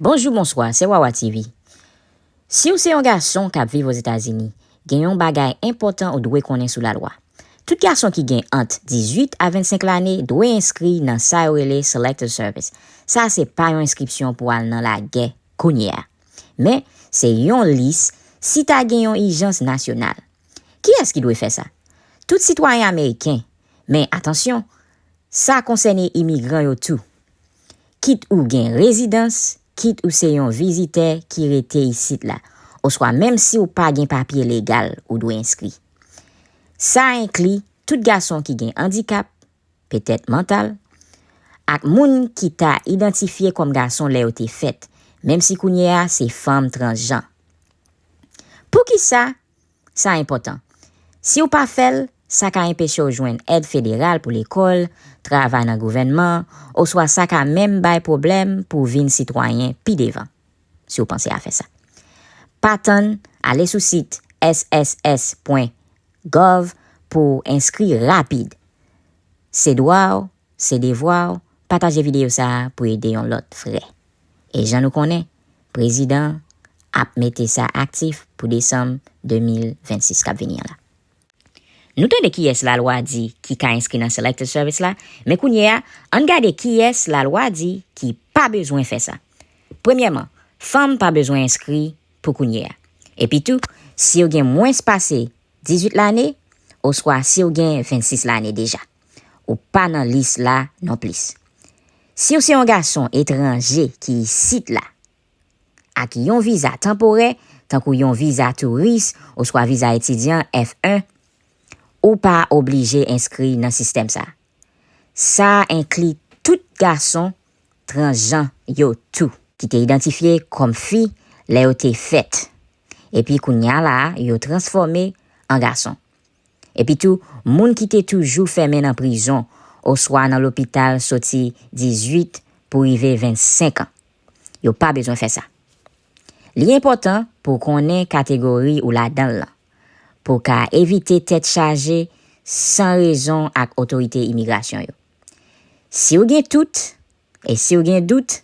Bonjou bonswa se wawa TV siw se yon gason kap viv ozetazini gen yon bagay enpòtan ou dwe konnen sou lalwa tout gason ki gen ant 18 a 25 lane dwe enskri nan sa yo rele selective service sa se pa yon enskripsyon pou al nan lagè kounye a men se yon lis si ta gen yon ijans nasyonal kiyès ki dwe fè sa tout sitwayen ameriken men atansyon sa konsène imigran yo tou. kit ou gen rezidans, kit ou se yon vizitè ki rete isit la, oswa menm si w pa gen papye legal ou dwe enskri. Sa enkli tout gason ki gen andikap, petèt mantal, ak moun ki ta idantifye kòm gason lè yo te fèt, menm si kounye a se fanm transjan. Poukisa? Sa enpòtan. Si w pa fè l, sa ka enpeche w jwenn èd federal pou lekòl, travay nan gouvènman, oswa sa ka menm bay pwoblèm pou w vin sitwayen pi devan, si w panse a fè sa. Pa tann, ale sou sit sss pwen gov pou w enskri rapid. Se dwa w Se devwa w pataje videyo sa a pou ede yon lòt frè. E jan nou konnen, prezidan an ap mete sa aktif pou desanm 2026 k ap vini an la. Nou tande kiyès lalwa di ki ka enskri nan Selected Service la, men kounye a, ann gade kiyès lalwa di ki pa bezwen fè sa. Premyèman, fanm pa bezwen enskri pou kounye a. Epitou, si yo gen mwens pase 18 lane, oswa si yo gen 26 lane deja. Ou pa nan lis la non plis. Siw se yon gason etranje ki isit la ak yon viza tanporè tankou yon viza touris oswa viza etidyan F1, ou pa oblije enskri nan sistèm sa. Sa enkli tout gason transjan yo tou. Ki te idantifye kòm fi lè yo te fèt epi kounya la yo transfòme an gason. Epitou, moun ki te toujou fèmen nan prizon oswa nan lopital soti 18 pou rive 25 an, yo pa bezwen fè sa. Li enpòtan pou w konnen kategori ou ladan l lan pou w ka evite tèt chaje san rezon ak otorite imigrasyon yo. Si w gen tout, e si w gen dout,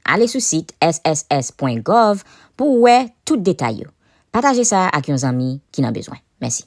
ale sou sit sss.gov pou w wè tout detay yo. Pataje sa ak yon zanmi ki nan bezwen. Mèsi.